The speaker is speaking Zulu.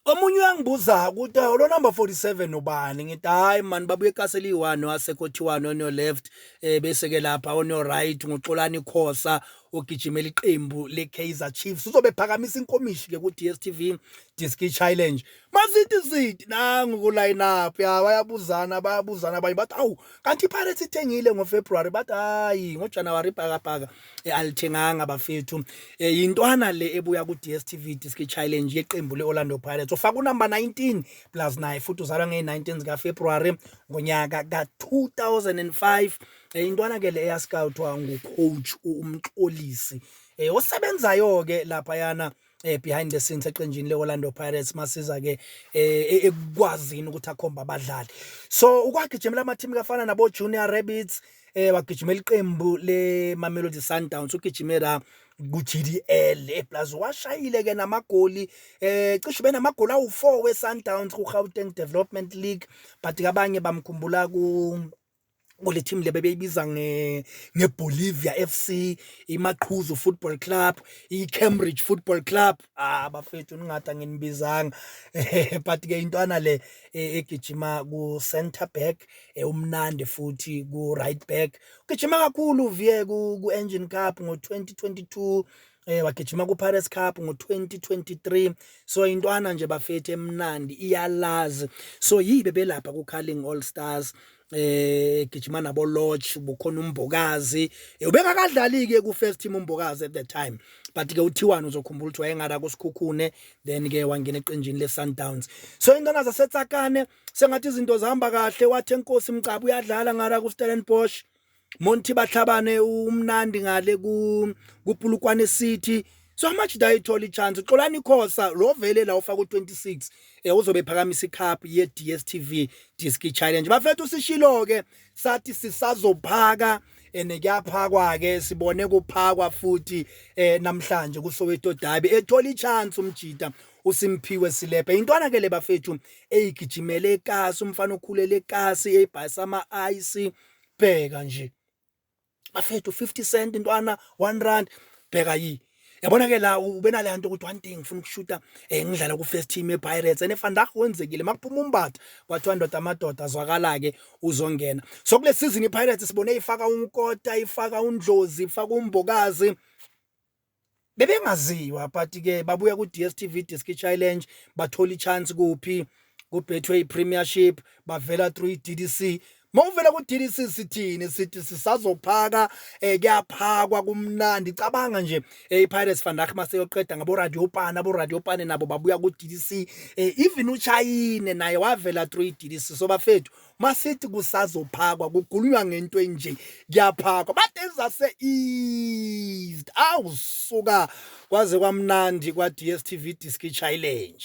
Omunye uyangibuza ukuthi awu lo number 47 ubani ngithi hayi man babuye castle iwani wasekothiwani on your left eh bese ke lapha on your right nguxolani khosa ogijimela iqembu le Kaizer Chiefs uzobe phakamisa inkomishi ke ku DStv Diski Challenge mazithi zithi nangu ku line up ya bayabuzana bayabuzana abanye bathi awu kanti iPirates ithengile ngo February bathi hayi ngo January bhaka bhaka eh, alithenganga bafethu eh, yintwana le ebuya ku-dstv disk challenge yeqembu le-orlando pirates ufaka unumber 19 plus naye futhi uzalwa ngey-19 zikafebruwari ngonyaka ka-2005 eh, yintwana ke le eyascoutwa ngucoach umxolisi um osebenzayo-ke laphayana eh behind the scenes eqenjini leOrlando Pirates masiza ke eh, ekukwazini ukuthi akhomba abadlali so ukwagijimela ama team kafana nabo Junior Rabbits eh wagijimela iqembu le Mamelodi Sundowns ugijimela ku-GDL eplaza eh, washayile ke namagoli eh cishe benamagoli awu4 weSundowns kuGauteng Development League but kabanye bamkhumbula ku kule team le bebeyibiza nge ngeBolivia FC, iMaqhuzu Football Club, iCambridge Football Club. Ah bafethu ningada nginibizanga. But ke intwana le e, egijima ku center back, e, umnandi futhi ku right back. Ugijima kakhulu vie ku Engine Cup ngo 2022 eh wagijima ku Pirates Cup ngo2023 so intwana nje bafethu emnandi iyalazi so yibe belapha ku Carling All Stars eh gijima nabo lodge bukhona umbokazi eh, ubengakadlali ke ku first team umbokazi at the time but ke uthiwani uzokhumbula ukuthi wayengara kusikhukhune then ke wangena eqenjini le Sundowns so intwana zasetsakane sengathi izinto zihamba kahle wathi enkosi mcabu uyadlala ngara ku Stellenbosch Monty Bahlabane umnandi ngale ku kuPulukwane City so much dayithola ichance xolani khosa lo vele la ufaka u26 eh uzobe ephakamisa icup ye DStv Disc Challenge bafethu usishilo ke sathi sisazophaka and kuyaphakwa ke sibone kuphakwa futhi eh namhlanje kuSoweto Derby ethola ichance umjita uSimphiwe Silepe intwana ke le bafethu eyigijimele ekasi umfana okhulele ekasi ebhayisa ama ice bheka nje bafethu 50 cent intwana 1 rand bheka yi yabona ke la ubenale hanto ukuthi one thing ngifuna ukushuta eh ngidlala ku first team ePirates ene Vandag wenzekile makuphuma umbatha kwathiwa ndoda amadoda azwakala ke uzongena so kule season iPirates sibone ifaka unkota ifaka undlozi ifaka umbokazi bebengaziwa but ke babuya ku DStv Diski Challenge bathola ichance kuphi ku Betway Premiership bavela through DDC Mawuvela ku DDC sithini sithi sisazophaka eh kuyaphakwa kumnandi cabanga nje eh, i Pirates van Rach maseyoqeda ngabo Radio Pana bo Radio Pana nabo babuya ku DDC eh, even uChayine naye wavela through i DDC so bafethu masithi kusazophakwa kugulunywa ngento enje kuyaphakwa but ezase eased awu suka kwaze kwamnandi kwa DStv Diski Challenge